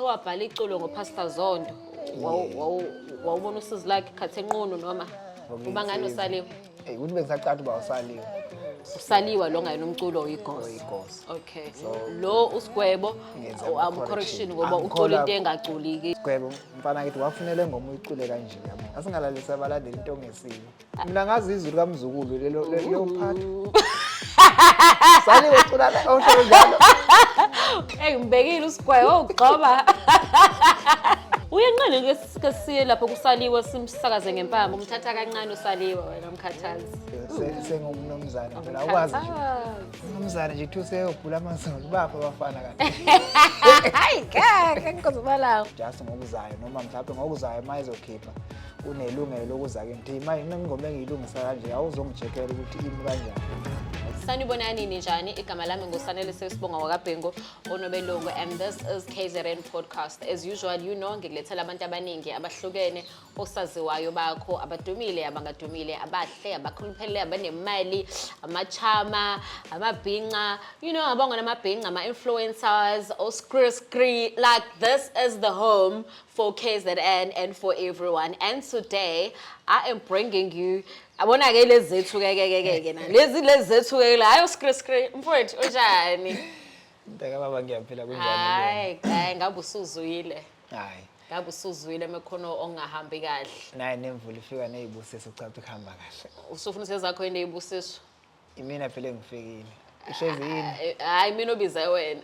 Owabhala iculo ngoPastor Zondo. Wawu- wawu- Wawubona usizi lakhe khathi enqunu noma uma ngani usaliwe. Hey, ukuthi bengisacatha uba usaliwe Usaliwa lo ngayena umculo oyigosi. oyigosi Okay. Lo usigwebo Ngenza um ama-correction. correction ngoba ucula Angikholwa- into engaculiki. gwebo mfana kithi wafunele ngoma uyicule kanje yabo asingalalisa abalandeli into ongesile mina ngazi izwi likamzukulu lelo le- leyo part saliwe cula la- ohlelo njalo eyi ngibekile usigwayi wawugxoba uyenqeni ke ke siye lapho kusaliwe simsakaze ngempama umthatha kancane usaliwe wena mkhathazi Se- sengumnumzane phela akwazi nje Mkhathazi. umnumzane nje kuthiwa useyogula amazulu bapha abafana kanti hayi kaka ngikhozimalawo just ngokuzayo noma mhlawumbe ngokuzayo uma ezokhipha unelungelo lokuza kimi thi manje mina ingoma engiyilungisa kanje awuzongijekela ukuthi imi kanjani sanibona nini njani igama lami ngusanele sesibonga wakabhengo onobelungu and this is kzrn podcast as usual you know ngikulethela abantu abaningi abahlukene osaziwayo bakho abadumile abangadumile abahle abakhuluphelele abanemali amachama amabhinca you know abangona amabhinca ama-influencers oskri skri like this is the home for KZN and for everyone. And today I am bringing you abona ke lezi zethu ke ke ke ke ke na lezi lezi zethu ke la ayo screen screen mfowethu unjani Mntaka baba ngiyaphila kunjani hayi hayi ngabe usuzwile hayi ngabe usuzwile mekhono ongahambi kahle naye nemvula ifika nezibusiso ucathi kuhamba kahle usufuna usezakho yini ezibusiso Imina phela engifikile. Ihlezi yini? Eh, Hayi mina obize wena.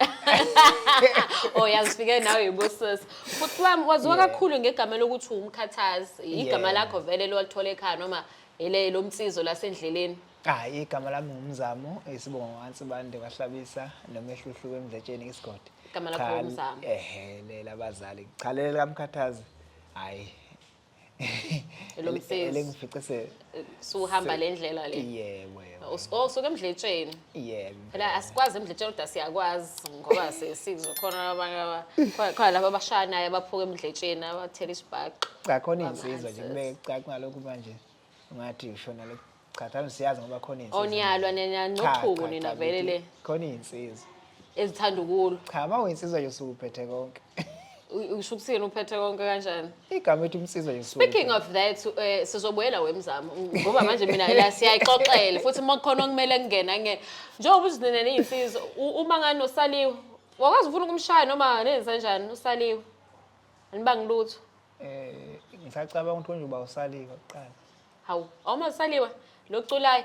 Oh yazifike nawe yibusisi. Futhi wami waziwa Yeah. kakhulu ngegama lokuthi umkhathazi. Igama Yeah. lakho vele lolithola ekhaya noma ele lomsizo lasendleleni. Hayi igama lami ngumzamo isibongo wansi bande wahlabisa nomehluhlu wemdletsheni isigodi. Igama lakho Cha, ngumzamo. Ehe lelabazali. Cha leli kamkhathazi. Hayi Lo mfezi. elengifice se suhamba le ndlela le yebo yebo Us- oh suke emdletsheni yebo phela asikwazi emdletsheni kodwa siyakwazi ngoba si- sizokhona abanye aba- khona- khona laba abashaya naye abaphuka emdletsheni abathela isibhaxu cha khona Baba insizwa nje Answers. kube cacwa lokhu manje ungathi ushona le cha thami siyazi ngoba khona insizwa Oh, niyalwa, nje. nina- Cha, nochuku cha, nina cha, vele ngithi le. khona insizwa ezithanda ukulwa cha uma uyinsizwa nje usuke uphethe konke U- usho ukuthini uphethe konke kanjani igama ethi umsizwa nje usuke speaking of that eh, sizobuyela wemzamo ngoba manje mina la siyayixoxela futhi uma kukhona okumele kungena nge njengoba uthi nina niyinsizwa u- uma ngani usaliwe wakwazi ufuna ukumshaya noma nenza njani usaliwe anibangilutho Eh ngisacabanga ukuthi unje uba usaliwe kuqala. Hawu, awuma usaliwe lokuculayo.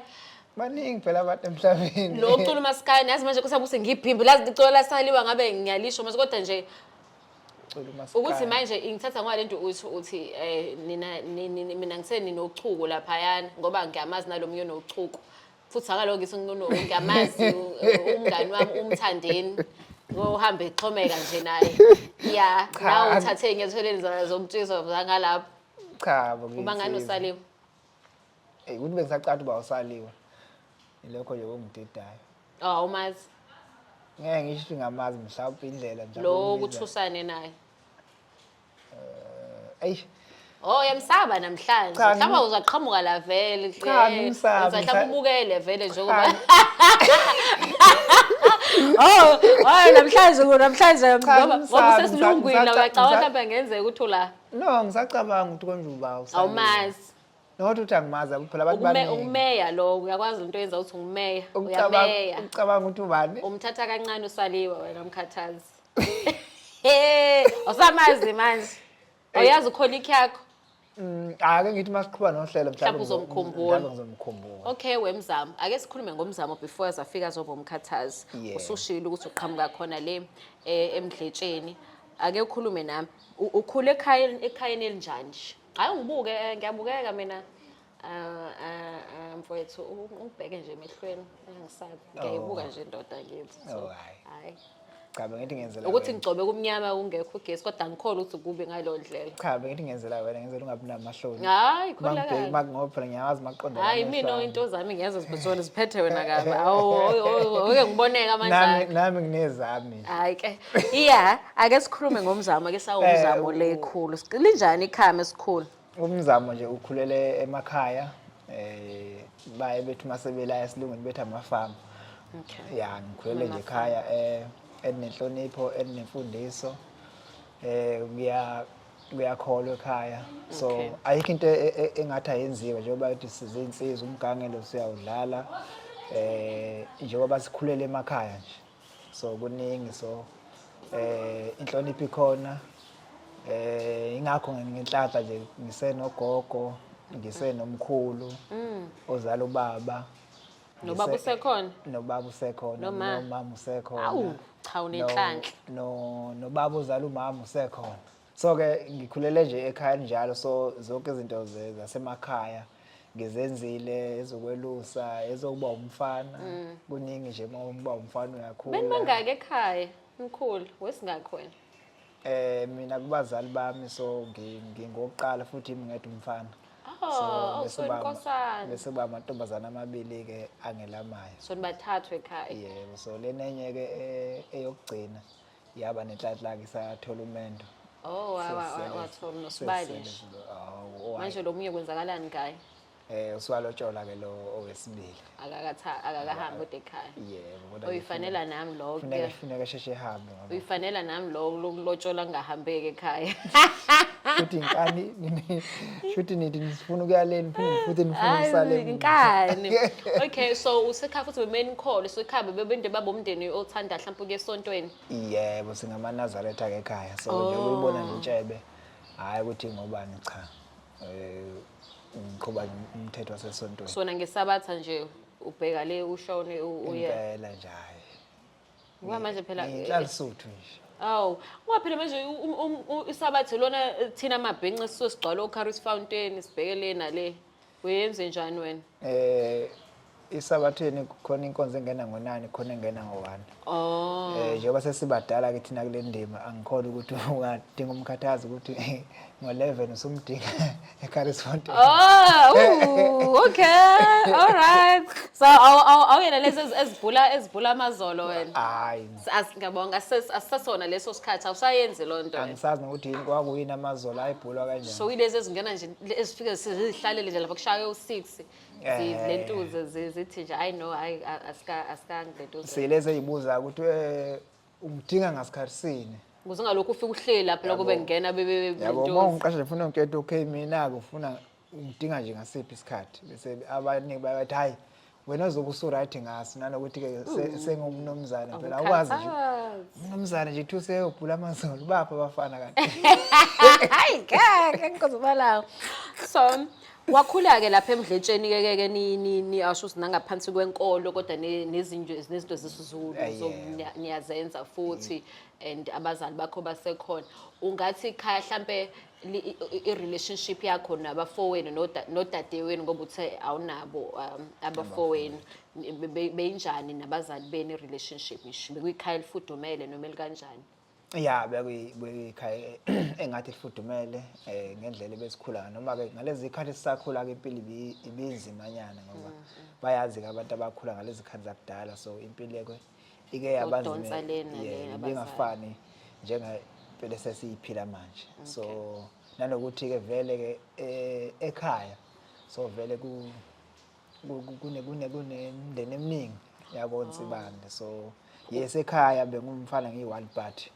Baningi phela abantu emhlabeni. Lo ucula umaskaya nazi manje kusabuse ngiphimbi lazi licula lasaliwa ngabe ngiyalisho mase kodwa nje Cula umaskandi. ukuthi manje ingithatha ngoba lento uthi uthi eh nina ni- ni- ni- mina ngiseni nochuku laphayana ngoba ngiyamazi nalomunye onochuku futhi akalo ngisho uNunu ngiyamazi u- u- umngani wami umthandeni ngohambe exhomeka nje naye ya Cha, nawe ang- uthathe enyathelweni zona zomtshizo zangalapho cha bo uma ngani ngithi- usaliwe Ey, ukuthi bengisacatha uba usaliwe ilokho nje kungididayo oh umazi ngeke ngisho ukuthi ngamazi mhlawumbe indlela nje lo akumbiza. ukuthi usane naye Eh, Eish. Oh yamsaba namhlanje. Cha, Mhlawumbe ngim- uzaqhamuka la vele. Cha, eh, ngimsabi, Mhlawumbe ngisa- ubukele vele njengoba. Oh, hayi namhlanje ku namhlanje Cha, ngoba ngoba ngimsabi, usesilungwini ngisa- la ngisa- uyacabanga ngisa- mhlawumbe ngenzeka ukuthi ula No, ngisacabanga ukuthi konjuba awusazi. awumazi. Not ukuthi angimazi akuphi phela abantu Ukume- baningi. Ukumeya lo uyakwazi into yenza ukuthi ungumeya. Ucabanga Uyameya. ucabanga ukuthi ubani? Umthatha kancane usaliwe wena mkhathazi. Eh, awusamazi manje. Awuyazi ukholic yakho. Mm, Ake ngithi masiqhuba nohlelo Mhlawumbe mhlawumbe uzomkhumbula. mhlawumbe ngizomkhumbula. Okay wemzamo. Ake sikhulume ngomzamo before azafika azoba umkhathazi. Yeah. Usushilo ukuthi uqhamuka khona le eh, emdletsheni. Ake ukhulume nami. U- Ukhule ekhayeni ekhayeni elinjani? nje? Hayi ngibuke eh, ngiyabukeka mina. Ah, ah, ah, mfowethu u- ubheke nje emehlweni angisabi ngiyayibuka nje indoda kithi so Oh, hhayi. hayi cha bengithi ngenzela ukuthi wena. ngigcobe kumnyama kungekho ugesi kodwa ngikhole ukuthi kubi ngaleyo ndlela cha bengithi ngenzela wena ngenzela ungabi namahloni hayi kholakala ngoba phela ngiyawazi maqonda hayi mina into zami ngiyazo zibhutshoni ziphethe wena kabi awuke ngiboneka nami amanjani nami nginezami hayi ke iya ake sikhulume ngomzamo ake sawumzamo Eh, u- lekhulu linjani ikhame esikhulu umzamo nje ukhulele emakhaya eh baye bethi masebela esilungwini bethi amafamu okay ya ngikhulele nje ekhaya eh enenhlonipho enemfundiso eh ngiya kuyakholwa ekhaya so okay. ayikho into e-, e-, engathi ayenziwe njengoba ukuthi sizinsizwa umgangelo siyawudlala eh njengoba sikhulele emakhaya nje so kuningi so eh inhlonipho ikhona eh ingakho ngenhlaka nje ngisenogogo ngisenomkhulu mm. ozala ubaba nobaba usekhona nobaba usekhona nomama usekhona awu cha unenhlanhla no nobaba ozala umama usekhona so ke ngikhulele nje ekhaya njalo so zonke izinto zasemakhaya ngizenzile ezokwelusa ezokuba umfana mm. kuningi nje uma uba umfana uyakhula bani bangaki ekhaya mkhulu wesingakho wena eh mina kubazali bami so ngingokuqala futhi ngingedwa umfana Oh, oh sonkosana. Bese ba amantombazana amabili ke angelamayo. So nibathathu ekhaya. Yebo, so lenenye ke eh, eyokugcina. yaba nenhlanhla ke sathola umendo oh wathola nosibali manje lo munye kwenzakalani ngaye eh usiwalotshola ke lo owesibili akakatha akakahambi kodwa ekhaya yebo kodwa uyifanela nami lokho kufuneka kufuneka sheshe ehambe ngoba uyifanela nami lokho lokulotshola ngahambeke ekhaya futhi inkani shuthi nithi nisifuna ukuyaleni phinde futhi nifuna Hayi, usaleni inkani okay so usekhaya futhi bemenikholwe so ekhaya bebebende babomndeni othanda mhlawumpe ukuya esontweni yebo singamanazaretha ke ekhaya so nje Oh. ukuyibona nje intshebe hhayi ukuthi ngobani cha um ngiqhuba umthetho wasesontweni sona ngesabatha nje ubheka le ushone u- uye impela nje hhayi Ngoba manje phela Ngihlala Sotho nje. Awu, ngoba phela manje u- u- um- u- isabathe lona eh, thina mabhenca sisuke sigcwala oCaris Fountain sibheke le nale. Uyenze njani wena? Eh isabatheni khona inkonzo engena ngonani khona engena ngowani. Oh. Eh njengoba sesibadala ke thina kule ndima angikhona ukuthi ungadinga umkhathazi ukuthi ngo-11 usumdinga eCarlsfontein oh uh, okay all right so awuyena lezi ezibhula ezibhula amazolo wena hayi ngiyabonga asisasona leso sikhathi awusayenzi loo nto angisazi nokuthi yini kwakuyini amazolo ayibhulwa kanjani so ilezi ezingena nje ezifike zihlalele nje lapha kushaye u-six zilentuze eh. zithi nje i know asikangilento silezi eyibuza ukuthi eh, Ungidinga ngasikhathi sini? Ukuze ungalokhu ufike uhleli lapho lokho bengena bebe Yabo uma ungiqasha nje ufuna ngikhethe okay mina ke ufuna ungidinga nje ngasiphi isikhathi bese abaningi bayathi hayi wena uzobe usu-right ngaso nanokuthi ke se- sengumnumzane phela awukwazi nje Awukhathazi. umnumzane nje kuthiwa useyobhula amazolo baphi abafana kanti Hayi kaka ngikozobalawo. So Wakhula-ke lapha emdletsheni kekeke niyasho ukuthi nangaphansi kwenkolo kodwa nezinto nezinto zesizulu niyazenza futhi and abazali bakho basekhona ungathi khaya hlampe i-relationship yakho nabafowenu nodadewenu ngoba uthe awunabo um, abafowenu beyinjani nabazali beni i-relationship ngisho bekuyikhaya elifudumele noma elikanjani ya bekuyikhaya engathi lifudumele um ngendlela ebesikhula noma-ke ngalezi khathi sisakhula-ke impilo ibinzimanyana ngoba mm, mm. bayazi-ke abantu abakhula ngalezi khathi zakudala so impilo-ke ike yabanzimibingafani njengempilo esesiyiphila manje so nanokuthi-ke vele-ke eh, ekhaya so vele kunemndeni eminingi yakoNsibande oh. so yes ekhaya bengumfana ngiyi-one party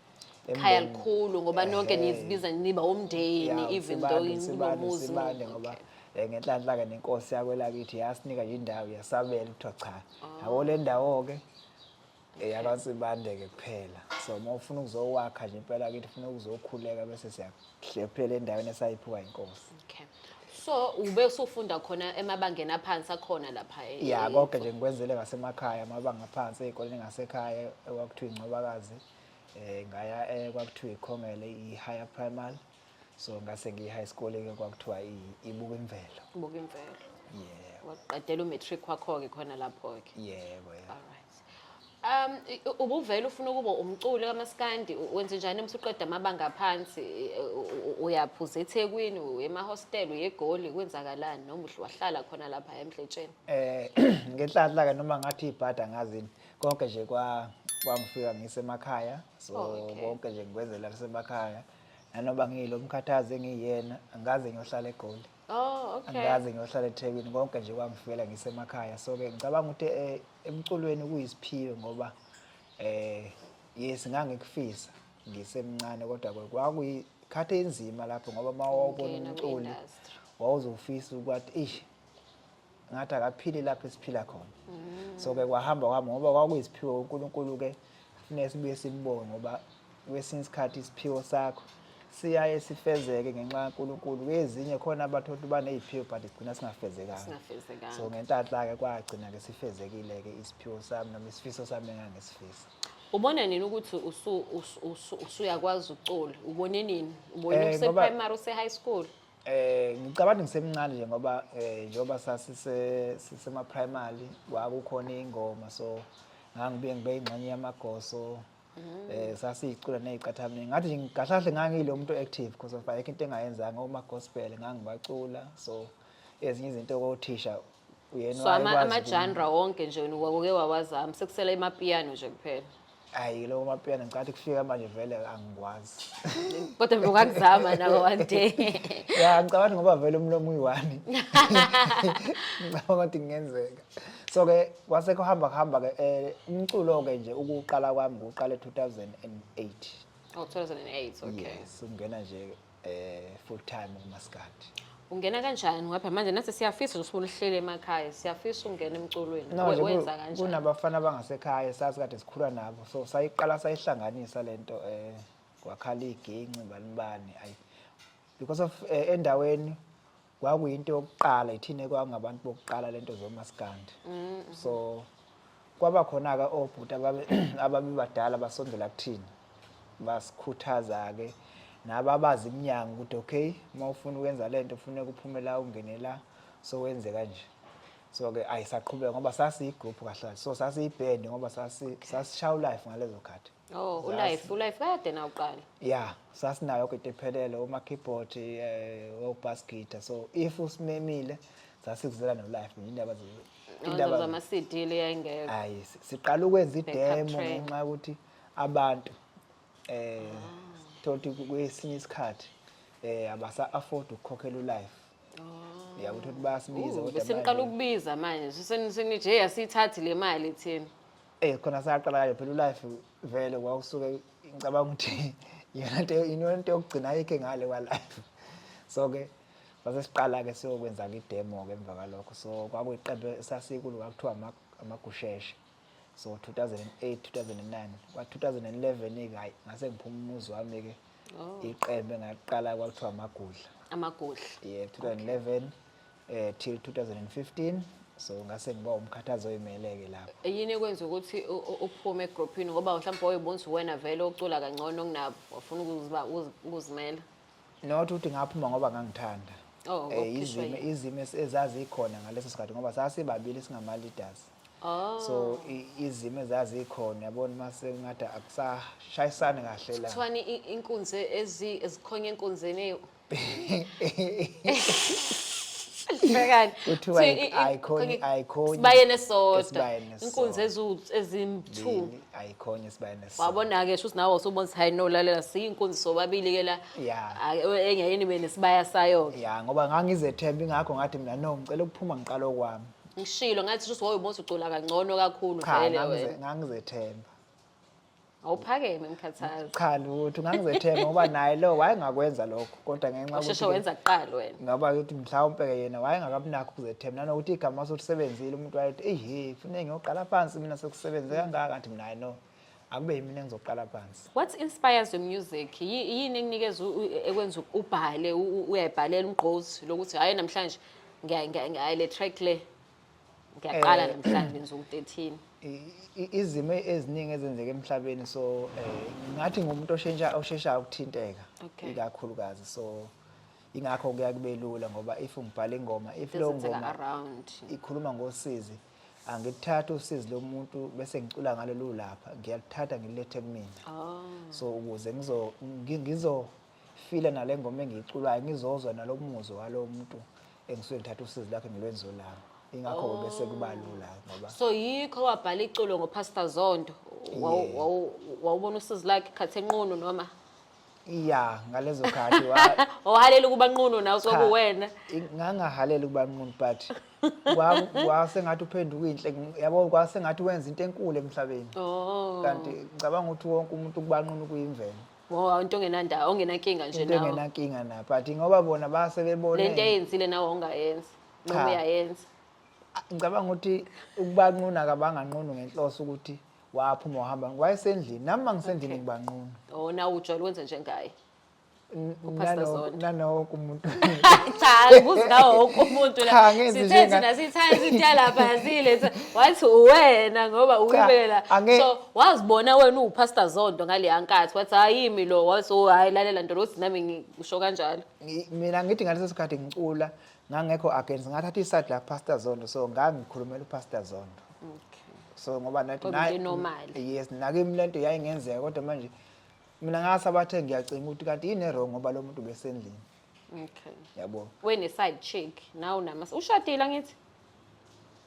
khaya likhulu ngoba nonke nizibiza niba umndeni even though inomuzi ngoba eh, ngenhlanhla-ke nenkosi yakwelakithi yasinika indawo yasabela kuthiwa cha yabo oh. le ndawo-ke eyakasibandeke kuphela so uma ufuna ukuzowakha nje impela kithi ufuna ukuzokhuleka bese siyahlephelela endaweni esayiphiwa inkosi okay so ube usufunda khona emabangeni aphansi akhona lapha e- ya e- konke nje ngikwenzele ngasemakhaya amabanga aphansi ezikoleni ngasekhaya okwakuthiwa incobakazi eh ngaya eh, kwakuthiwa ikhongele i-higher primary so ngase ngiyi-high school-ke kwakuthiwa i- ibuka imvelo buka imvelo yebo waqedela umatric wakho-ke khona lapho-ke yebo yebo Alright. Um i- u- ubuvele ufuna ukuba umculi kamaskandi u- wenze njani uma usuqeda amabanga aphansi i- u- u- uyaphuza eThekwini uye emahostel uye eGoli kwenzakalani noma uhle wahlala khona lapha eMdletsheni eh ngenhlanhla ke noma ngathi ibhada ngazini konke nje kwa kwangifika ngisemakhaya so Oh, okay. konke nje ngikwenzela kusemakhaya nanoba ngiyilo mkhathazi engiyena angikaze ngiyohlala egoli Oh, okay. Angikaze ngiyohlala eThekwini konke nje kwangifela ngisemakhaya. So ke ngicabanga ukuthi eh emculweni kuyisiphiwe ngoba eh yes ngangikufisa ngisemncane kodwa ke kwakuyikhathi enzima lapho ngoba mawawubona umculi wawuzofisa ukuthi ish ngathi akaphili lapho esiphila khona mm. so ke kwahamba kwami ngoba kwakuyisiphiwo uNkulunkulu ke funeka sibuye simbonge ngoba kwesinye isikhathi isiphiwo sakho siyaye sifezeke ngenxa kaNkulunkulu kwezinye khona abantu ukuthi baneziphiwo but sigcina singafezekanga so ngentatla ke kwagcina ke sifezekile ke isiphiwo sami noma isifiso sami engangisifisa ubona nini ukuthi usuyakwazi ukucula ubone nini ubone eh, useprimary use-high school Eh ngicabanga ngisemncane nje ngoba eh njengoba sasise sisema primary kwakukhona ingoma so ngangibuye ngibe ingxenye yamagoso mm. eh sasicula neziqathamini ngathi nje ngigahlahle ngangile umuntu active because of ayikho into engayenzanga uma gospel ngangibacula so ezinye izinto kothisha Uyena so ama- wayekwazi amajanra wonke nje wena wawuke wawazama sekusela imapiyano nje kuphela uku- Hhayi lowo mapiyano ngicathi kufika manje vele angikwazi. kodwa nje ungakuzama nawo one day Ya ngicabanga ngoba vele umlomo uyiwani. Ngicabanga ukuthi kungenzeka. So ke kwase kuhamba kuhamba ke eh, umculo ke nje ukuqala kwami ngiwuqale 2008. oh 2008 okay Yes, ungena nje eh full time umaskandi ungena kanjani ngapha manje nathi siyafisa nje usulihlele emakhaya siyafisa ungena emculweni No, We- nje wenza ku- kanjani kunabafana abangasekhaya sazi kade sikhula nabo so sayiqala sayihlanganisa lento eh kwakhala iginci balibani ayi because of eh, endaweni kwakuyinto yokuqala ithina kwakungabantu bokuqala lento zomaskandi mm-hmm. so kwaba khona ke obhuti ababebadala basondela kuthina basikhuthaza ke nababazi iminyango ukuthi okay uma ufuna ukwenza lento ufuneka uphume la ungene la so wenze kanje so ke ayisaqhubeka ngoba sasiyigroup kahle so sasiyiband ngoba sasi sasishaw life ngalezo khathi Oh, ulife, ulife kade na uqala. Yeah, sasinayo kade phelele uma keyboard eh o bass guitar. So if usimemile sasikuzela no life indaba ze Indaba zama CD le yayingekho. Hayi, siqala ukwenza idemo ngenxa ukuthi abantu eh thothi kwesinye isikhathi eh abasa afford ukukhokhela ulife. Oh. Yakuthi ukuthi bayasibiza kodwa. Seniqala ukubiza manje. Senithe hey asithathi le mali thina. Eh khona saqala kayo phela ulife vele wawusuke ngicabanga ukuthi yona nto iyona nto yokugcina ayikho ngale kwa life. So ke sase siqala ke siyokwenza ke demo ke emva kwalokho so kwakuyiqembu esasikulo kwakuthiwa amagusheshe. So 2008 2009 kwa 2011 ke hayi ngase ngiphuma umuzi wami ke oh. iqembu engaqala kwakuthiwa amagudla. Amagudla. Yeah 2011 eh till 2015 so ngase ngiba umkhathazi oyimeleke lapho yini ekwenza ukuthi u- u- uphume egrouphini ngoba mhlawumbe wayebona ukuthi uwena vele ocula kangcono kunabo wafuna ukuziba- ukuzi- ukuzimela not ukuthi ngaphuma ngoba ngangithanda Oh, Eh, wakhishwa izimo yini? izimo es- ezazikhona ngaleso sikhathi ngoba sasibabili singama leaders oh so i- izimo ezazikhona yabona mase ngathi akusashayisani kahle la kuthiwani i- inkunzi ezi- ezikhonye enkunzini eyi- Bhekani. Kuthiwa Thi- i- i- ayikhoni i- ayikhoni. Sibayeni esodwa. Esibayeni esodwa. Inkunzi ezu- ezimthu. Mbili, Ayikhoni esibayeni esisodwa. Wabona ke shuthi nawe usubona ukuthi hayi no lalela siyinkunzi sobabili ke la. Yeah. Ah, e- Enye yini bene sibaya sayo. Ya ngoba ngangizethemba ingakho ngathi mina no ngicela ukuphuma ngiqala okwami. Ngishilo ngathi shuthi woyibona ukuthi ucula kangcono kakhulu Cha vele ngangize- wena. ngangizethemba. awuphakeme mkhathazi cha lutho ngangizethemba ngoba naye lo wayengakwenza lokho kodwa ngenxa usheshe wenza kuqala wena ngoba ukuthi mhlawumpe ke yena wayengakamnakho ukuzethemba nanokuthi igama solisebenzile umuntu wayethi ehe fune ngiyoqala phansi mina sekusebenze kangaka kanti mina hayi no akube yimina engizoqala phansi what inspires your music yini ekunikeza ekwenza ubhale uyayibhalela umgqozi lokuthi hayi namhlanje ngiyayi le track le ngiyaqala eh, namhlanje ngizoku 13 izimo eziningi ezenzeka emhlabeni so eh, ngathi ngumuntu oshintsha osheshayo ukuthinteka ikakhulukazi so ingakho kuya kube lula ngoba if ngibhala ingoma if leyo ngoma ikhuluma ngosizi angithatha usizi lomuntu bese ngicula ngalo lulapha ngiyalithatha ngilethe kumina oh. so ukuze ngizo ngizo file nale ngoma engiyiculayo ngizozwa nalo muzwa walo muntu engisuke ngithatha usizi lakhe ngilwenzo lami ingakho oh. bese kuba lula ngoba so yikho wabhala iculo ngopastor zondo wawubona usizi lakhe khathi enqunu noma ya ngalezo khathi wahalela ukuba nqunu nawe sokuwena ngangahalela ukuba nqunu but kwase ngathi uphenduka inhle yabo kwase ngathi wenza into enkulu emhlabeni oh. kanti ngicabanga ukuthi wonke umuntu kubanqunu kuyimvelo ngoba into ongenandawo ongenankinga nje into nawe engenankinga na but ngoba bona base lento bebone eyenzile nawe ongayenzi Cha. noma uyayenza ngicabanga ukuthi ukubanquna kabanganqunu ngenhloso ukuthi waphuma wahamba wayesendlini nami uma ngisendlini Okay. ngibanquna o nawe ujwayele ukwenza njengaye N- Pastor nano- Zondo. nanowonke umuntu cha ngibuza ngawo wonke umuntu la Cha, ngenzi sithe njenga- thina sithanda into yalapha yazile wathi uwena ngoba Cha, uwibela ange- so wazibona wena uwupastor zonto ngaleya nkathi wathi hayimi lo waso hayi lalela nto lothi nami ngisho kanjalo Ngi- mina ngithi ngaleso sikhathi ngicula ngangekho against ngathatha iside la pastor zondo so ngangikhulumela upastor zondo so ngoba nathi Kodwa naye- into normal. yes nakimi le nto yayingenzeka kodwa manje mina ngasabathe ngiyacinga ukuthi kanti yini erong ngoba lo muntu besendlini okay yabo wene side chick nawu nama ushadile ngithi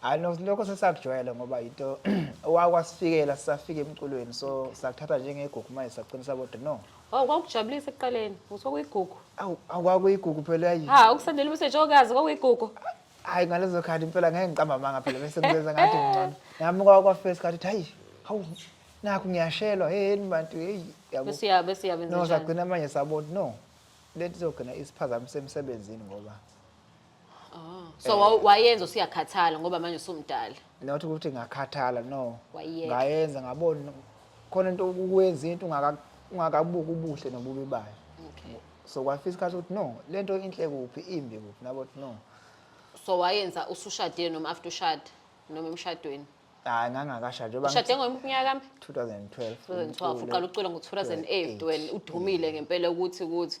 hayi no lokho sesakujwayele ngoba yinto owakwasifikela sisafika emculweni so sakuthatha njengegugu manje saqinisa bodwa no Oh kwakujabulisa ekuqaleni. Ngithiwa kuyigugu. awu akwakuyigugu phela yayi Ha ukusendela umsebenzi okazi kwakuyigugu. hayi ngalezo khathi impela ngeke ngiqamba amanga phela bese ngizenza ngathi ngcono nami kwakwafesi khathi hayi hawu nakho ngiyashelwa heyeni bantu heyi yabo Bese uya bese uya benza no njani? sagcina manje sabona no lento izogcina isiphazamisa emsebenzini ngoba Oh. So wa- wayenza usuyakhathala ngoba manje usumdala. not ukuthi ngakhathala no Wayiyeka. ngayenza ngabona khona into ukuyenza into ungaka- ungakabuki ubuhle nobubi bayo Okay. so kwafika isikhathi ukuthi no le nto inhle kuphi imbi kuphi nabo ukuthi no So wayenza usushadile noma after ushada noma emshadweni. hayi ngangakashadi njengoba Ushade ngithi ngoyiphi unyaka mbi? 2012 2012 uqala ukucula ngo-2008 wena udumile ngempela ukuthi ukuthi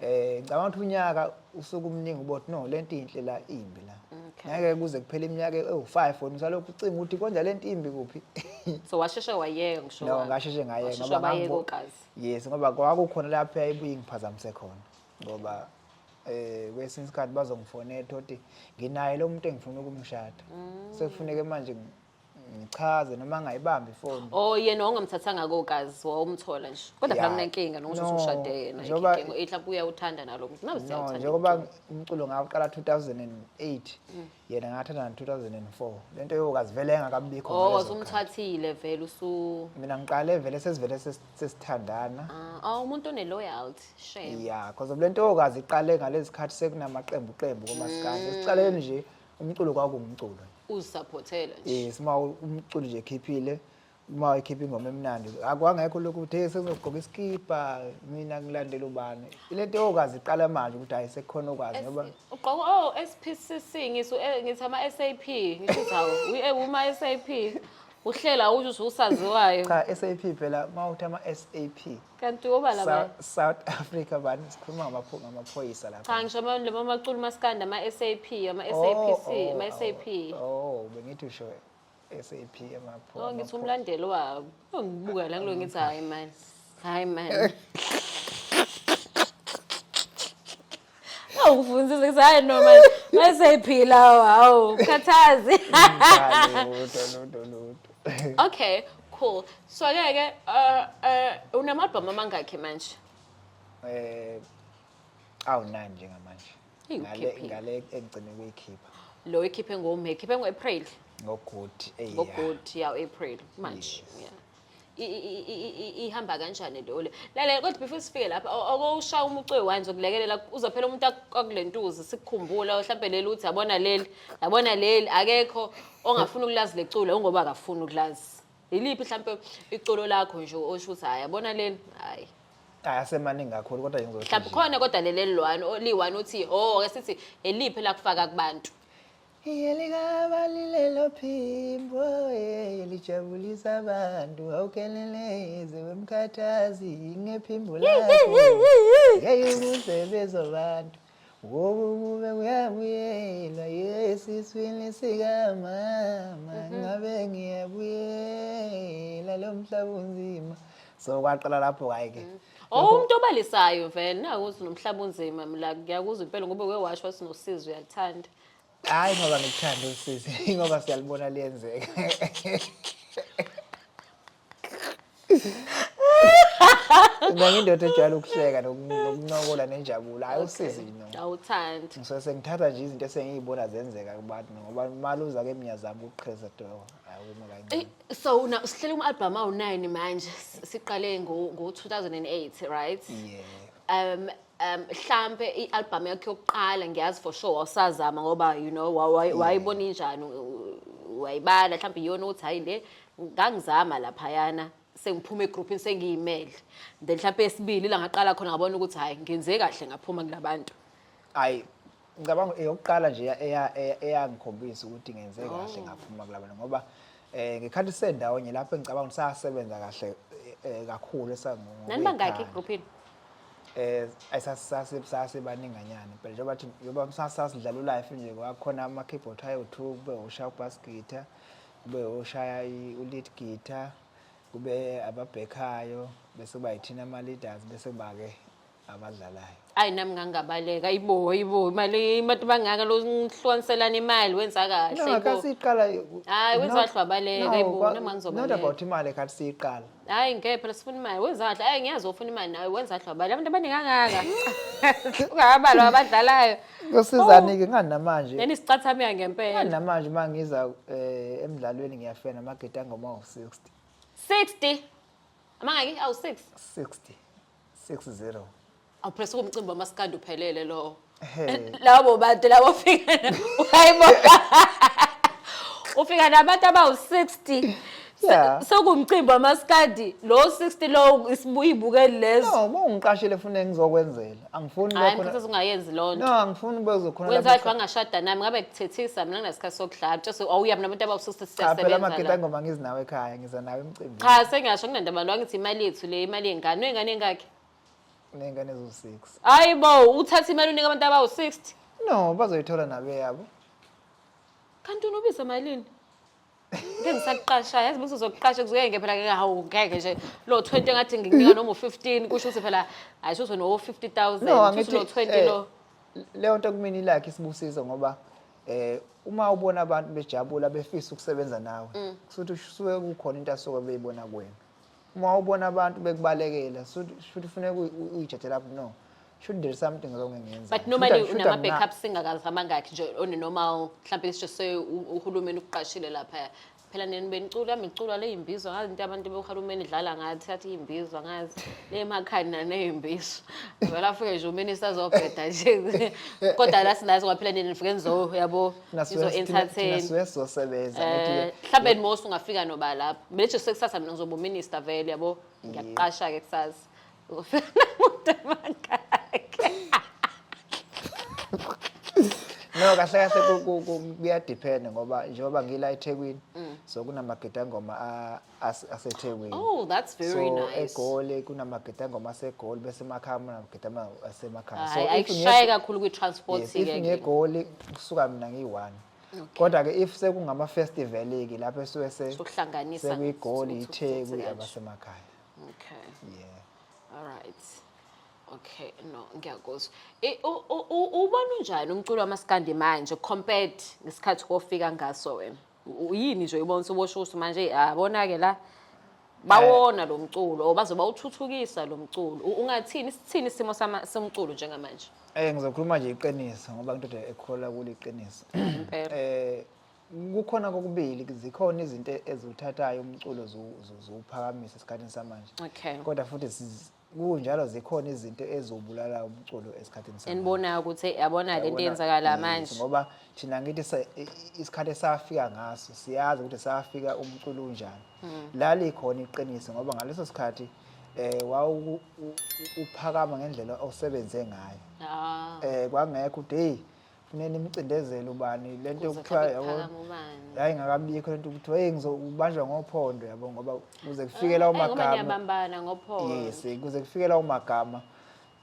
Eh ngicabanga ukuthi unyaka usuke umningi ubothi no lento inhle la imbi la. Ngeke kuze kuphele iminyaka ewu5 wena usalokhu ucinga ukuthi konja lento imbi kuphi. So washeshe wayeka ngisho. No ngasheshe ngayeka ngoba ngayeka. Yes ngoba kwakukhona lapho yayibuye ngiphazamise khona ngoba eh kwesinye isikhathi bazongifonela ukuthi nginaye lo muntu engifuna ukumshada. Mm. Sekufuneke manje ngichaze noma angayibambi ifoni oh yena ongamthathanga kokazi wawumthola nje kodwa phela kunenkinga nokusho ukuthi ushade yena inkinga ihla buya uthanda nalo muntu nawe siyathanda njengoba umculo ngawuqala 2008 mm. yena ngathanda 2004 lento yokazi vele engakabikho oh wasumthathile vele usu mina ngiqale vele sesivele sesithandana ah, ah umuntu one loyalty shame yeah because lento yokazi iqale ngalezikhathi sekunamaqembu qembu komasikandi mm. siqaleni nje umculo kwakuwumculo nje uzisaphothela nje yes uma u- umculi nje ekhiphile uma ekhipha ingoma emnandi akwangekho lokhu uthe sengizogqoka isikibha mina ngilandela ubani ile nto yokazi iqala manje ukuthi hayi sekukhona okwazi ngoba ugqoka oh SPCC ngisu eh, ngithi ama SAP ngisho ukuthi hawu we- eh, uma SAP uhlela ukuthi usaziwayo cha SAP phela uma uthi ama SAP kanti oba laba South, South Africa bani sikhuluma ngabapho- ngamaphoyisa lapha cha ngisho ama- laba macula umaskandi ama-sap ama-sapc Oh, oh, ama-sap oh, oh bengithi usho SAP emapho o Oh, ngithi umlandeli wabo Oh, ngibuka la kulo ngithi hhayi mani hhayi mani awufundzise kuthi hayi no manje mayiseyiphila hawu khathazi okay cool so ke ke uh, uh, unamabhomu amangakhi manje eh awunani njengamanje ngale ngale engcine kuyikhipha lo ikhiphe ngomhe ikhiphe ngo-april ngogood ngogood ya april manje yeah ihamba kanjani leyo le lalela kodwa before sifike lapha okowushaya umucu weyi-one zokulekelela uzophela umuntu akule ntuzi sikukhumbula mhlawumbe leli uthi yabona leli yabona leli akekho ongafuni ukulazi lecula ungoba akafuni ukulazi yiliphi mhlawumpe iculo lakho nje osho ukuthi hhayi yabona leli hhayi ayasemaningi kakhulu kodwa mhlawumbe khona kodwa leli eliyi-one liyi-one uthi o oh, ke sithi eliphi lakufaka kubantu Yelikabalilelo phimbo eh, lijabulisa abantu awukeleleze wemkhathazi ngephimbo lakho yeyumusebenzi wabantu ngoba ukube kuyabuyelwa yesiswini sikamama mhm. ngabe ngiyabuyela lo mhlaba unzima so kwaqala lapho kayi ke mhm. Oh umuntu obalisayo vele nakuthi nomhlaba unzima mina ngiyakuzwa impela ngoba uke washo sinosizwe uyakuthanda Hayi ngoba ngikuthanda usisi, ingoba siyalibona liyenzeka. Mina ngindoda ejwayele ukuhleka noku- nokuncokola nenjabulo. Hayi usisi no. Awuthandi. Ngisuke sengithatha nje izinto esengiyibona zenzeka kubantu ngoba maluza ke mnyazama ukuqheza do. Hayi uma kancane. Ey, So una usihlele uma album awu9 manje. Siqale ngo ngo 2008, right? Yeah. Um um mhlampe i-albhamu yakhe yokuqala ngiyazi for sure wawusazama ngoba you know wa- wa- wayibona injani u- u- wayibala mhlawumbe iyona ukuthi hhayi le ngangizama laphayana sengiphuma egruphini sengiyimele then mhlawumpe esibili la ngaqala khona ngabona ukuthi hhayi ngenze kahle ngaphuma kulabantu ayi ngicabanga eyokuqala nje eyangikhombisa ukuthi ngenze oh. kahle ngaphuma kulabana ngoba eh ngekhathi sendawonye lapho engicabanga ukuthi sasebenza kahle eh, eh, kakhulu esangoku nanibangaki egroupini eh ayisasase sase baninganyana impela njengoba bathi yoba sasidlala ulife nje kwakhona ama keyboard ayo2 kube ushaya ubass guitar kube ushaya ulead guitar kube ababhekhayo bese kuba yithina ama leaders bese kuba ke abadlalayo ayi nami ngangabaleka ibo ibo imali imati bangaka lo ngihlwaniselana imali wenza kahle no ibo. kasiqala Hayi, wenza kahle wabaleka, ibo, nami ngangizobaleka. not about imali kathi siyiqala hayi ngeke phela sifuna imali wenza kahle ayi ngiyazi ofuna imali nawe wenza kahle wabaleka abantu abaningi angaka ungabalwa abadlalayo kusizani-ke Oh. ngani namanje neni sicathameka ngempela ngani namanje uma ngiza um emdlalweni ngiyafena amagede angoma-60 60 amangaki awu-6 60 60 awupress kumcimbi wamaskandi uphelele lowo Hey. labo bantu labo fika hayibo ufika nabantu abawu-60 Yeah. sokumcimbi wamaskandi lo 60 lowo isibuyibukeli lezo no uma ungiqashile funa engizokwenzela angifuni hayi lokho mfuthu ungayenzi loo nto no angifuni bezokhona wenza kahle wangashada nami ngabe kuthethisa mina nginasikhathi sokudlala mtshase awuya mina abantu abawu-60 cha phela siyasebenza amagita la engoma ngizinawo ekhaya ngiza nawe emcimbini cha sengasho kunandaba lo angithi imali yethu le imali yengane uyengane engakhe uney'ngane eziwu-six hayi bo uthatha imali unika abantu abawu-sixty no bazoyithola nabeyabo kanti unobiza malini ngeke ngisakuqasha yazi mase uzokuqasha kuzoyenge phela ngeke hawu ngeke nje lo 20 ngathi ngikunika noma u15 kusho ukuthi phela hayi sho no 50000 kusho lo 20 lo eh, leyo nto kumina ilakhe isibusizo ngoba eh uma ubona abantu bejabula befisa ukusebenza nawe mm. kusuthi usuke kukhona into asuke beyibona kuwena uma ubona abantu bekubalekela shuthi funeka uyijethele lapho no should there something wrong engenza but normally unama backup singakazama ngakhi nje on a normal mhlawumbe let's just say uhulumeni ukuqashile lapha phela nini benicula miculwa le yimbizwa ngazi into abantu bohulumeni idlala ngathi athi yimbizwa ngazi le makhani naneyimbizwa vele afike nje uminista azobheda nje kodwa la sinazi ngoba phela nini nifike nizo yabo izo entertain sizosebenza eh, mhlawumbe nimosi ungafika noba lapho manje sekusasa mina ngizoba uminista vele yabo ngiyakuqasha ke kusasa no kahle kahle kuyadiphenda ngoba njengoba ngila ethekwini mm. so kunamagidangoma asethekwini oh that's very so, nice egoli kunamagidangoma asegoli bese emakhaya kunamagidama asemakhaya so ayishaye kakhulu kwi-transport yes, if ngegoli kusuka mina ngiyi-one kodwa ke if sekungama-festival-ke lapho esuke sekuyigoli itheku abasemakhaya okay yeah all right okay no ngiyakuzwa I- u- u- u- ubona unjani umculo wamaskandi manje compared ngesikhathi kofika ngaso wena U- yini nje uyibona usubosho ukuthi manje eyi, ah bona-ke la bawona lo mculo or bazoba uthuthukisa lo mculo U- ungathini sithini isimo sama- somculo njengamanje Eh ngizokhuluma nje iqiniso ngoba ngidoda ekholwa kuliqiniso. Impela. Eh kukhona kokubili zikhona izinto eziwuthathayo umculo ziwuphakamisa esikhathini samanje kodwa futhi kunjalo zikhona izinto eziwubulala umculo esikhathini samanje enibonayo ukuthi yabona le nto yenzakala manje ngoba thina ngithi isikhathi esafika ngaso siyazi ukuthi safika umculo unjani hmm. lali khona iqiniso ngoba ngaleso sikhathi eh wawu uphakama ngendlela osebenze ngayo ah. eh kwangekho ukuthi hey funeka nimcindezele ubani le nto yokuthiwa yabo yayingakabikho le nto ukuthi hey ngizobanjwa ngophondo yabo ngoba kuze kufikela eh, umagama yes kuze kufikela umagama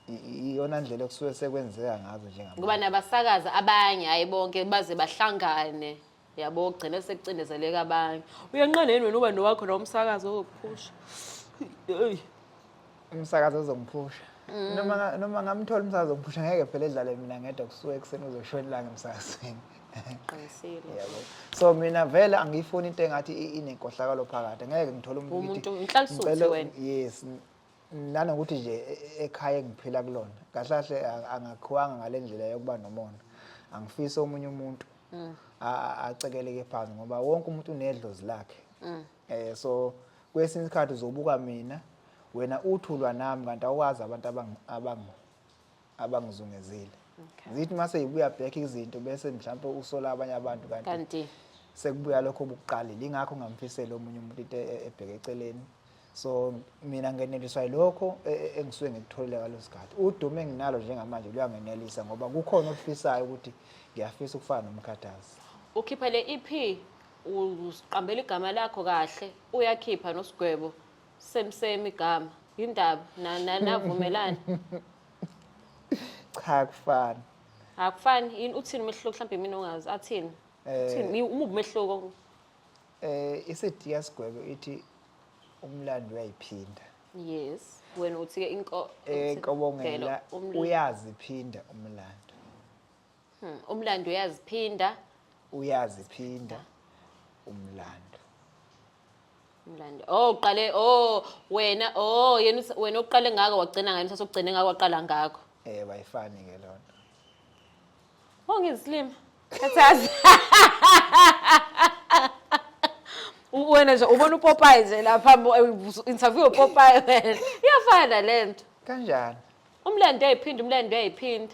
iyona ndlela okusuke sekwenzeka ngazo njengabantu ngoba nabasakazi abanye hayi bonke baze bahlangane yabo ugcine sekucindezeleka abanye uyanqanda yini wena uba nowakho la umsakazi ozokuphusha Eyi. umsakazi ozongiphusha Mm. noma nga- noma ngamthola umsakazi ongiphusha ngeke phela edlale mina ngedwa kusuke ekuseni kuzoshona ilanga emsakazweni qinisile yabo so mina vele angiyifuni into engathi i- inenkohlakalo phakathi ngeke ngithole umuntu Umuntu- ngithi- ngihlalisuthe ngicela- wena. yes n- nanokuthi nje e, e, ekhaya engiphila kulona kahle kahle angakhiwanga ngale ndlela yokuba nomona angifisi omunye umuntu mm. acekeleke phansi ngoba wonke umuntu unedlozi lakhe um so kwesinye isikhathi uzobuka mina wena uthulwa nami kanti awukwazi abantu abangizungezile okay. zithi uma seyibuya back izinto bese mhlawumpe usola abanye abantu kanti kanti sekubuya lokho obukuqalile ingakho ngamfisela omunye umuntu into e-, ebheke eceleni so mina ngeneliswa yilokho e-, e-, engisuke ngikutholile ngalo sikhathi udumo enginalo njengamanje luyangenelisa ngoba kukhona okufisayo ukuthi ngiyafisa ukufana nomkhathazi ukhipha le EP uqambela igama lakho kahle uyakhipha nosigwebo Same same igama. Yindaba na na navumelana. Cha kufana. Akufani yini uthini umehluko mhlawumbe mina ongazi athini. Eh. Uthini umubi umehluko. Eh isediya sigwebe ithi umlando uyayiphinda. Yes. Wena uthi ke inko Eh kobongela umlando. uyaziphinda umlando. Hmm, umlando uyaziphinda uyaziphinda umlando umlando oh uqale oh wena oh yena uthi- wena uqale ngako wagcina ngayo mthatha ugcine ngako waqala ngako eh bayifani ke lona oh ngizislima khathazi U- wena nje ubona upopayi nje lapha mbo- eh, ubusu- interview upopayi wena iyafana le nto kanjani umlando uyayiphinda umlando uyayiphinda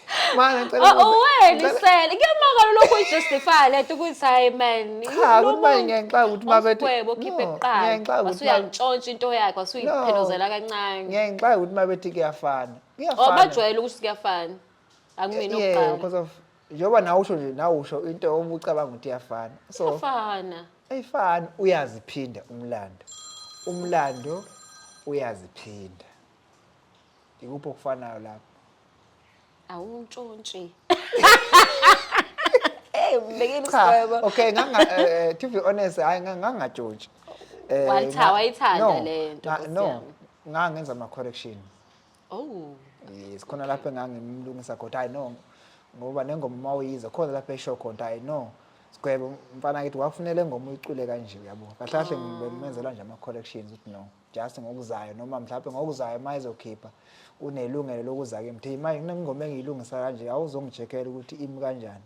Mana ngicela Oh, ukubuza- uwena ngicela- isele kuyamangala lokhu uyijustify lento ukuthi hayi man Cha, ukuthi manje ngiyayixaka ukuthi uma bethi- umgwebo okhiphe No, kuqala ngiyayixaka ukuthi uma- wasuyantshontsha into yakhe wasuyiphelozela kancane ngiyayixaka ukuthi uma bethi kuyafana Oh, kuyafana bajwayele ukuthi kuyafana akumina Yeah, okuqala because of njengoba nawe usho nje nawe usho into uma ucabanga ukuthi iyafana so kuyafana ayifani uyaziphinda umlando umlando uyaziphinda ikuphi okufanayo lapho awuntshontshe hey umbekile Cha, isgwebo okay nganga eh, eh, to be honest hayi nga- ngangajoji Eh, Waltha, nga- wayithanda no, le nto, nga- Nkosi no yami. ngangenza ama correction oh yes khona lapho engangimlungisa khona hayi no ngoba nengoma uma uyiza khona lapho esho khona hayi no sigwebo mfana kithi wakufunele ingoma uyicule kanje uyabo kahle kahle ngimenzela nje ama corrections ukuthi no just ngokuzayo noma mhlawumbe ngokuzayo uma izokhipha unelungelo lokuza kimi thi manje kunengoma engiyilungisa kanje awuzongijekela ukuthi imi kanjani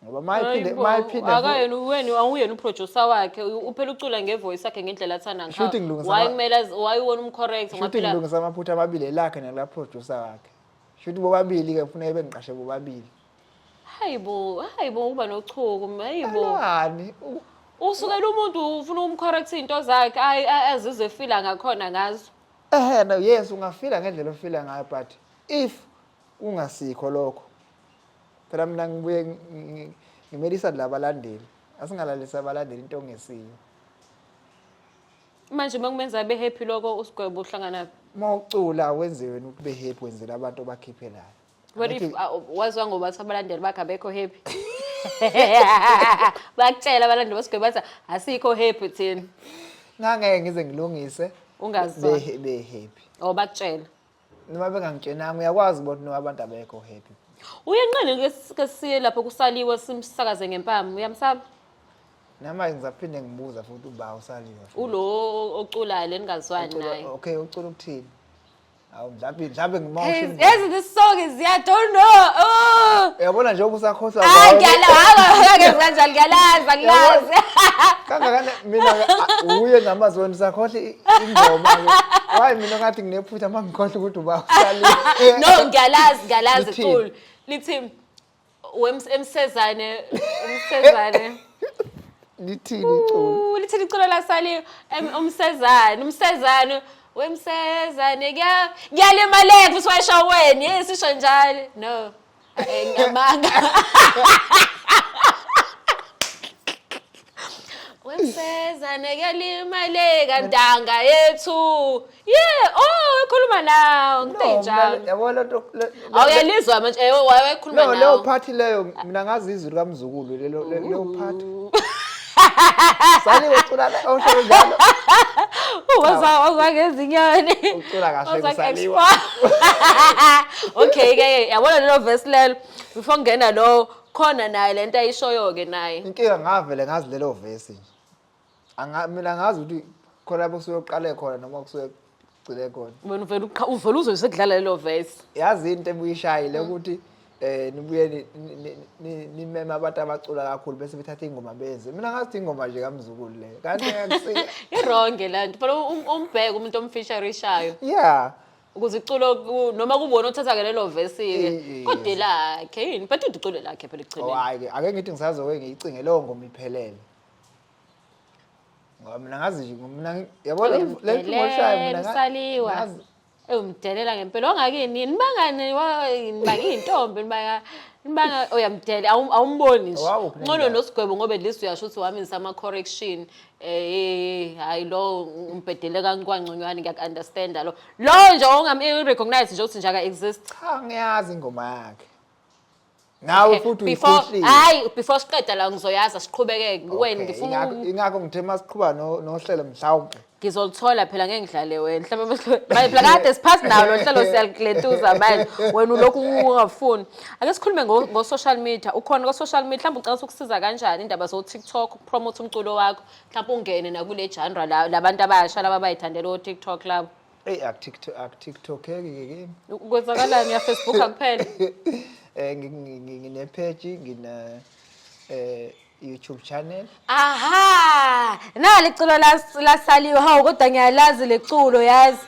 ngoba mayiphinde mayiphinde akayena uweni awuyena uproducer wakhe uphela ucula ngevoice yakhe ngendlela athanda ngayo why kumele why wona umcorrect ngoba phela ngilungisa amaphutha amabili lakhe nela producer wakhe shuthi bobabili ke kufuneka bengiqashe bobabili Hayibo, hayibo uba nochuku, hayibo. Alwani. u- Usukela umuntu ufuna ukumcorrect into zakhe, ayi a- azizwe efila ngakhona ngazo. Ehhe no yes ungafila ngendlela ofila ngayo but if kungasikho lokho. Phela mina ngibuye ngi- ngi- ngimelisa labalandeli. Asingalalisa abalandeli into ongesiyo. Manje uma kumenza abe happy lokho usigwebo uhlangana Uma ucula wenziwe ukuthi ube happy wenzela abantu obakhiphelayo. What if uh, wazwa ngoba ukuthi abalandeli bakhe abekho happy? Bakutshela abalandeli basigwebo bathi asikho happy thina. ngangeke ngize ngilungise Ungazwa. be be happy Oh bakutshela. noma bengangitshenanga uyakwazi ukuthi noma abantu abekho happy Uyenqeni ke s- ke siye lapho kusaliwe simsakaze ngempama. Uyamsaba? nama ngizaphinde ngibuza futhi uba usaliwe Ulo oculayo leningazwani Ucula- naye. okay ucula ukuthini Awu mhlawumbe mhlawumbe ngima Hey, ushilo. yazi this song is yeah, don't know. Oh. Uyabona nje ukusakhohlwa Ah, kwawo. ngiyala, haba, ngeke kanjalo ngiyalaza, ngilazi. Kangakana mina ke, ah, uye namazwi wena usakhohle i- ingoma. ke. Why mina ngathi nginephutha mangikhohle ukuthi uba usali. No, ngiyalazi, ngiyalazi Lithini? cool. Lithi Wems- emsezane umsezane lithini iculo Ooh, lithini iculo lasali em- umsezane umsezane wemsezane kuya- kuyalimaleka futhi washo wena yini sisho njalo no Eh, ngamanga wemseza nekelimaleka ntanga yethu ye oh ekhuluma nawo ngithe njalo yabo lo nto le- le- awuyalizwa manje eh wayekhuluma no leyo nawo phathi leyo mina ngazi izwi likamzukulu lelo le- leyo phathi saliwe cula la- osho njalo waza waza ngezinyoni Ucula kahle Waza kusaliwa. nge-explore. okay ke yabona lelo verse lelo before ngena lo Khona naye lento ayishoyo ke naye. Inkinga ngavele ngazi lelo vesi nje. Anga mina ngazi ukuthi khona lapho kusuke kuqale khona noma kusuke kugcine khona. Wena uvela uqha- uvela uze sekudlala lelo verse. Yazi into ebuyishayile ukuthi eh nibuye ni- ni- ni- ni- nimeme abantu abacula kakhulu bese bethatha ingoma benze. Mina ngazi ukuthi ingoma nje kamzukulu le. Kanti akusike. Ironge lento. Phela um- umbheke umuntu omfisharishayo. Yeah. ukuze iculo ku- noma kubona othatha-ke lelo vesi-ke Iye. kodwa elakhe yini but into iculo lakhe phela Oh, ekugcineni hayi ke ake ngithi ngisazoke ngiyicinge leyo ngoma iphelele ngoba mina ngazi nje mina ngi- yabo le le ngoma olishayo mina nga- usaliwa ngazi- ewumdelela ngempela wangakini yini nibangani wa- nibanga iy'ntombi nibanga nibanga uyamdelela awum- awumboni nje Wawuphi ncono nendawo? nosigwebo ngoba at least uyasho ukuthi waminisa ama-correction Eh hayi lo umbhedele kaNkwancunywani ngiyak understand lo. Lo nje ongam recognize nje ukuthi nje aka exist. Cha ngiyazi ingoma yakhe. Nawe futhi before uyikhohlile. hayi before siqeda la ngizoyaza siqhubeke wena Okay, ngifuna ingakho- uku- ingakho ngithe masiqhuba no- nohlelo mhlawumbe ngizolithola phela ngeke ngidlale wena mhlawumbe mase- manje phela kade siphasi nawo lo hlelo siyaliglentuza manje wena ulokhu ungafuni ake sikhulume ngo- ngo-social media ukhona ko-social media mhlawumbe ucabanga ukuthi ukusiza kanjani indaba zo-tiktok promote umculo wakho mhlawumbe ungene nakule genre la labantu abasha laba bayithandela o TikTok labo Ey akuTikTok akuTikTok ke kimi. kwenzakalani ya Facebook kuphela Eh ngi- ngi- ngi- ngine page ngina eh YouTube channel. aha nali culo las- lasaliwe hawu kodwa ngiyalazi leculo yazi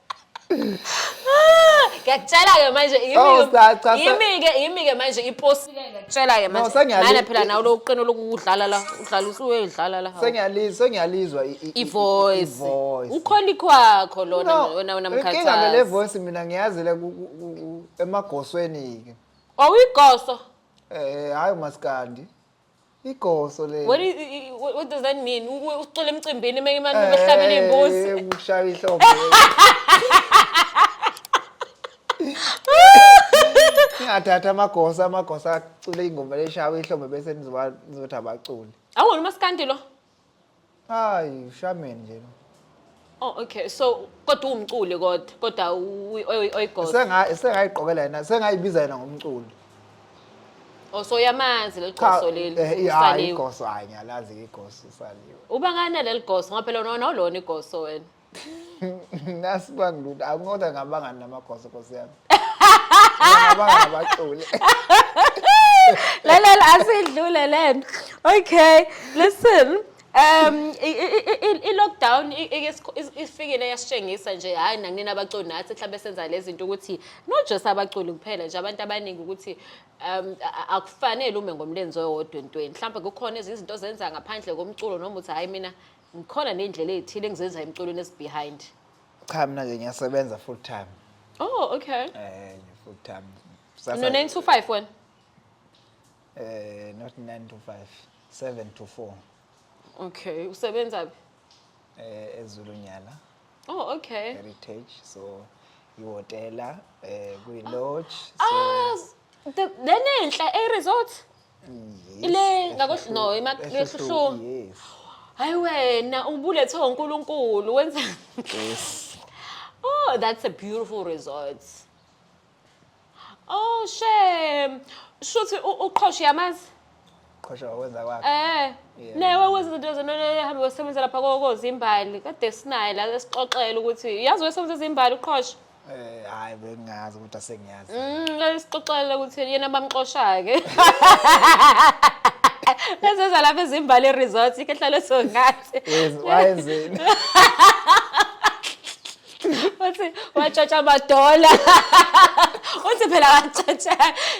ngiyakutshela-ke manje Oh, cha, cha, sa- yimi-ke yimi-ke manje iposile ngiyakutshela-ke No, sengiyali- manjemana phela nawe lo uqino lokudlala la udlala usuyedlala la hawu. Sengiyali- sengiyalizwa i- i- i- ivoice ivoice. ukhona ikhwakho lona No, wena wena inkinga ngale mkhathazi voice mina ngiyazile ku- ku- ku- ku- emagosweni-ke awuyigoso Eh, hhayi umaskandi igoso lelo What, is, i- i- what, what does that mean? U- u- Ucula emcimbini uma imani Eh, behlabela iy'mbuzi. eh, ukushaya ihlombe ingathatha amagosa amagosa acule ingoma leshawa ihlombe bese nizoba- nizothi abaculi Awona umaskandi lo. Hayi, ushameni nje. Oh okay so kodwa uwumculi kodwa kodwa uyi- oyi- oyigogo. Senga sengayiqokela yena, sengayibiza yena ngomculo. Oh so yamazi leligoso leli. eh, iya, hayi usaliwe. igoso hayi ngiyalazi igoso usaliwe. Uba ngani leligoso ngoba phela unona ulona igoso wena. nasi bangiluda akungoda ngabangani namagoso nkosi yami ngabangani abaculi lalela asidlule lento okay listen um i-lockdown ifikile yasitshengisa nje hhayi nakunina abaculi nathi mhlawumbe senza le zinto ukuthi not just abaculi kuphela nje abantu abaningi ukuthi um akufanele ume ngomlenze owodwa entweni mhlawumbe kukhona ezinye izinto ozenza ngaphandle komculo noma uthi hhayi mina Ngikhona nendlela ezithile engizenza emculweni is behind. Cha mina ke ngiyasebenza full time. Oh, okay. Eh, full time. Sasa No 9 to 5 wena. Eh, not 9 to 5, 7 to 4. Okay, usebenza phi? Eh, eZulunyala. Oh, okay. Heritage. So ihotela eh kwi lodge. So Ah, s- the- lenenhla e resort. Ile ngakohlu no imakhlushuma. Hayi wena ubulethwe uNkulunkulu wenza Yes. Oh, that's a beautiful resort. Oh, shame. Shuthi u- uqhoshe yamazi? Qhosha wakwenza kwakhe. Eh. Yeah. Nawe wenza izinto zona hambe wasebenza lapha kokozimbali. Kade sinaye la esixoxela ukuthi yazi wasebenza izimbali uqhoshe. Eh hayi bengazi ukuthi asengiyazi. Mm, ayisixoxela ukuthi yena bamxoshake. Leseza lapha ezimbali resort ikehlalo songathi. Wayenzeni? Uthi watshatsha amadola. Uthi phela watshatsha.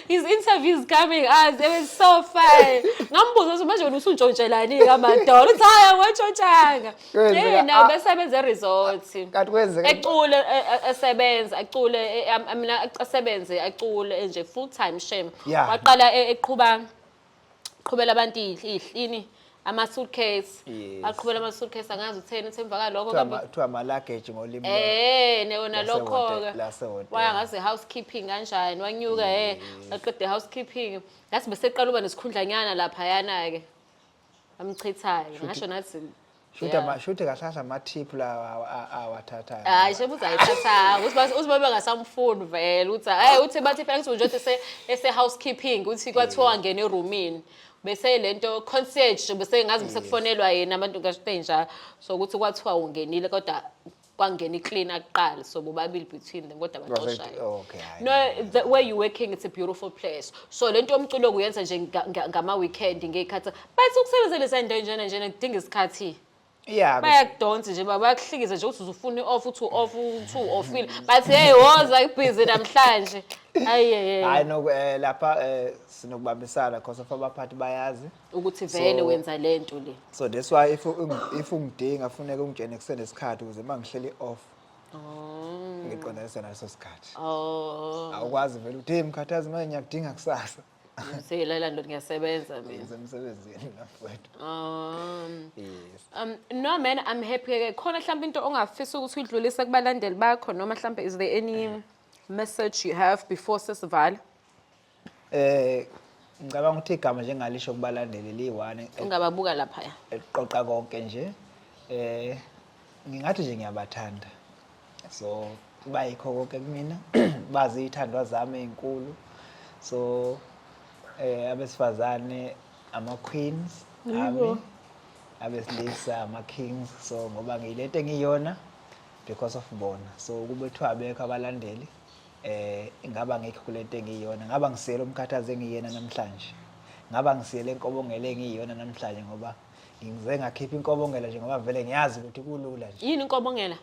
His interview is coming as it was so fine. Ngambuza ukuthi manje wena usuntshontshelani kamadola. Uthi hayi watshontshanga. Kwenzeka- Yini ah, besebenza eresort. kanti kwenzeka Ecule e- e- esebenza, acule e- am- am- na- asebenze acule enje full time shame. Yeah. Waqala e- eqhuba qhubela abantu ihl- ihlini ama suitcase. Yes. Aqhubela ama suitcase angazi utheni uthi emva kalokho kuthiwa kambe ama- kuthiwa amalageji ngolimi lwabo. Eh ne wona Lase lokho hotel- ke. lase hotel. Waya ngaze housekeeping kanjani wanyuka eh aqede housekeeping. Ngathi beseqala uba nesikhundlanyana lapha yana ke. amchithayo ngasho nathi Shuthi ama shuthi kahlahla ama tip la awathathayo. Hayi shebe uzayithatha ukuthi uziba bengasamfuni vele uthi hey uthi bathi phela ngithi nje ese ese housekeeping uthi kwathiwa ngene eroomini bese lento concierge bese ngazi bese kufonelwa yena abantu ngasho nje so ukuthi kwathiwa ungenile kodwa kwangena icleaner kuqala so bobabili between them kodwa baxoshayo oh, okay, hhayi. no the way you working it's a beautiful place so lento yomculo kuyenza nje nga- nga- ngama weekend ngeyikhathi but ukusebenzela izinto enjena njena kudinga isikhathi Yeah, bayakudonsa nje baba bayakuhlikiza nje ukuthi uzufuna i-off uthi u-off uthi u-offile but hey woza ibhizi namhlanje ayeyeye hayi noku eh, lapha eh, sinokubambisana because of abaphathi bayazi ukuthi vele So- wenza le nto le so that's why if ungi- if ungidinga funeka ungitshene kusenesikhathi ukuze uma ngihleli off ngiqondanise naleso sikhathi oh awukwazi vele ukuthi hey mkhathazi manje ngiyakudinga kusasa ngizela la ndoda ngiyasebenza mina ngisemsebenzini nafowethu um yes Um, no man i'm happy ke khona mhlawumbe into ongafisa ukuthi uyidlulise kubalandeli bakho noma mhlawumbe is there any message you have before sesivala Eh ngicabanga ukuthi igama njengalisho kubalandeli liyi-one e- ungababuka laphaya eliqoqa konke nje eh ngingathi nje ngiyabathanda so bayikho konke kumina bazi ithandwa zami ezinkulu so eh abesifazane ama queens ami abesilisa ama kings so ngoba ngiyilete ngiyona because of bona so kube kuthiwa abekho abalandeli eh ingaba ngekho kulento engiyona ngaba ngisele umkhathazi engiyena namhlanje ngaba ngisele inkobongela engiyona namhlanje ngoba ngize ngakhipha inkobongela nje ngoba vele ngiyazi ukuthi kulula nje yini inkobongela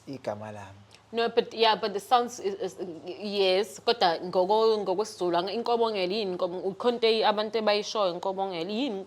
igama lami No but yeah but the sounds is, is, yes kodwa ngoko ngokwesizulu inkobongela yini inkobo ukhonte abantu ebayishoyo inkobongela yini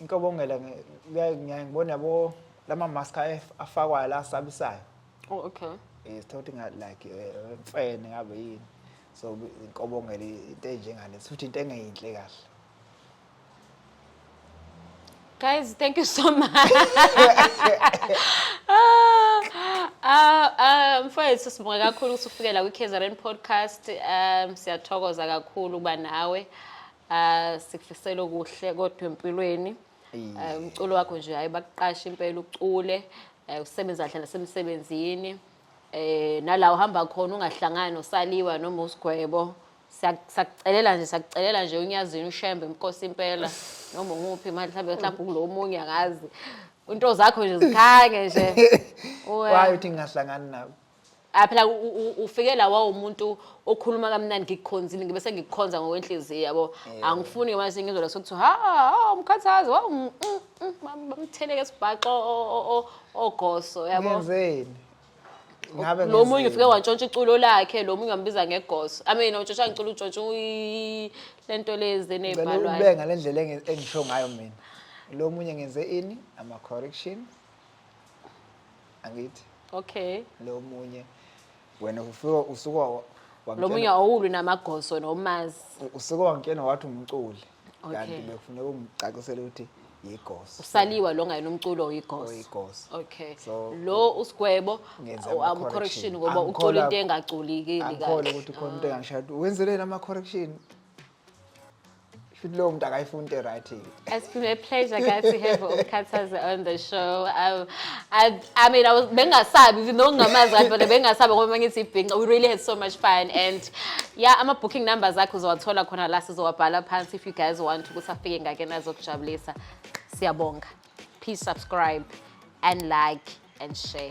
inkobongela ngiyaye ngiyaye ngibone yabo lama mask af- afakwayo la asabisayo Oh, okay. eh sithola ukuthi nga like eh, mfene ngabe yini so bi- inkobongela i- into enjengale futhi into engeyinhle kahle Guys, thank you so much. Ah, um, mfowethu sibonga kakhulu ukuthi ufike la kwi-KZN podcast. Um, siyathokoza kakhulu ukuba nawe. Ah sikufisela okuhle kodwa empilweni. Eh, Umculo wakho nje hayi bakuqasha impela ucule eh, usebenza kahle nasemsebenzini. Eh nala uhamba khona ungahlangani nosaliwa noma usigwebo. Siya- Siyakucelela nje siyakucelela nje unyazini ushembe inkosi impela noma nguphi imali mhlawumbe mhlawumbe kulo omunye angazi. Into zakho nje zikhange nje. Uwe. Why uthi ngingahlangani nabo? Ah phela ufike la wawumuntu okhuluma kamnandi ngikukhonzile ngibe sengikukhonza ngokwenhliziyo yabo. Angifuni ngamanje ngizwe la sokuthi ha ha umkhathazi wawu mm, mm, mm, bamtheleke sibhaxo ogoso yabo. Ngenzeni? Ngabe lo munye ufike wantshontsha iculo lakhe lo munye wambiza ngegoso. I mean utshontsha ngiculo utshontsha lento lezi nezibhalwayo. Ubeka lendlela engisho ngayo mina. Lo munye ngenze ini ama correction angithi okay lo munye wena ufika usuka wa- wamtshela- lo munye awulwi namagoso nomazi usuke wangitshena wathi umculi Okay. kanti bekufuneka ungicacisele ukuthi yigoso usaliwa lo ngayena umculo oyigoso oyigoso okay So, lo usigwebo ngenza awu- ama-correction. amcorrection ngoba ucula Angikholwa- into engagculikeli angikhole kahle ukuthi khona into engangishaya ukuthi wenzeleni ama-correction Shuthi lowo muntu akayifuni the right thing. It's been a pleasure guys to have uMkhathazi on the show. I, I, I mean I was bengasabi even though ngingamazi kanti but bengasabi ngoba mangithi ibhinca. We really had so much fun and yeah ama booking numbers akho uzowathola khona la sizowabhala phansi if you guys want ukuthi afike ngake nazokujabulisa. Siyabonga. Please subscribe and like and share.